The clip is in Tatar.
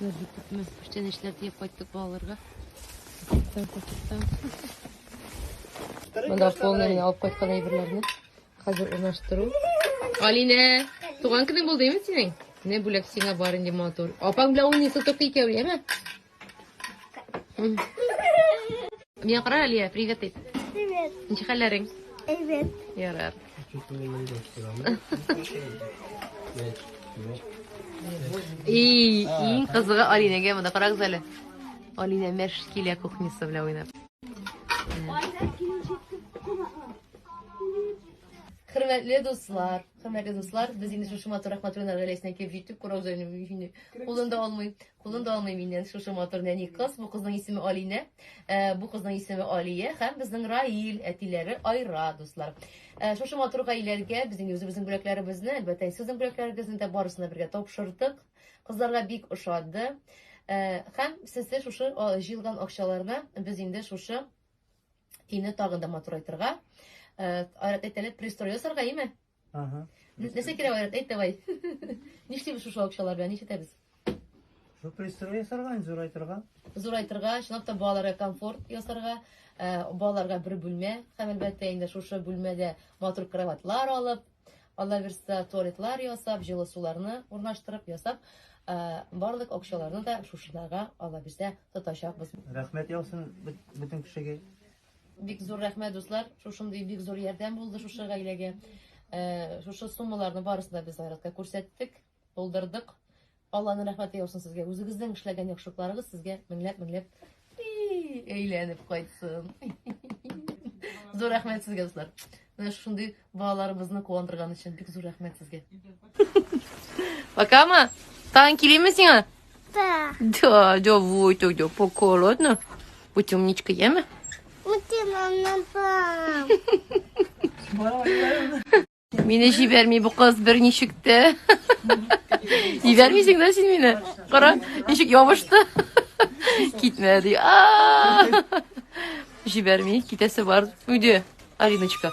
Нәрдә күпме күчтәнәчләр диеп кайттык балаларга. Күптән күптән. Монда полный генә алып кайткан әйберләрне хәзер урнаштыру. Алинә, туган көнең булды инде синең? Менә бүләк сиңа бар инде матур. Апаң белән уйныйсыз только икәү, яме? Миңа кара, Алия, привет ит. Привет. Ничек хәлләрең? Привет. Ярар. И, иң кызыгы Алинәгә монда карагыз әле. Алина мәш килә кухнясы белән уйнап. Хөрмәтле дуслар, хөрмәтле дуслар, без инде шушы матур Рахматуллиннар гаиләсенә килеп җиттек, Курозаевны кулында алмый. Кулын да алмыйм инде шушы матур нәни кыз. Бу кызның исеме Алинә, э, бу кызның исеме Алия һәм безнең Раил, әтиләре Айра, дуслар. Э, шушы матур гаиләгә безнең үзебезнең бүләкләребезне, әлбәттә, сезнең бүләкләрегезне дә барысына бергә тапшырдык. Кызларга бик ошады. Э, һәм сездә шушы җыелган акчаларны без инде шушы өйне тагын да матурайтырга, э, айрат әйтәләр, пристрой ясарга, име? Ага. Нәрсә кирәк Айрат? Әйт давай. Нишлибез шушы акчалар белән? Нишетәбез? Шу пристрой ясарга, инде зурайтырга. Зурайтырга, чынлап та балаларга комфорт ясарга, ә, балаларга бер бүлмә, һәм әлбәттә инде шушы бүлмәдә матур кроватлар алып, Алла бирса, туалетлар ясап, җылы суларны урнаштырып ясап, ә, барлык акчаларны да шушыларга Алла бирса тотачакбыз. Рәхмәт яусын бөт- бөтен кешегә. Бик зур рәхмәт, дуслар. Шушындый бик зур ярдәм булды шушы гаиләгә. Э, шушы суммаларны барысын да без Айратка күрсәттек, булдырдык. Алланың рәхмәте яусын сезгә. Үзегезнең эшләгән яхшылыкларыгыз сезгә меңләп меңләп әйләнеп кайтсын. Зур рәхмәт сезгә, дуслар. Менә шушындый Балаларыбызны куандырган өчен бик зур рәхмәт сезгә. Пока ма. Тагын килимме сиңа? Да. Да, давай тогда, пока, ладно? Будь умничка, яме? Мине җибәрми бу кыз бер ничек тә. Җибәрмисең дә син мине. Кара, ничек ябышты. Китмә ди. Җибәрми, китәсе бар. Үде, Алиночка.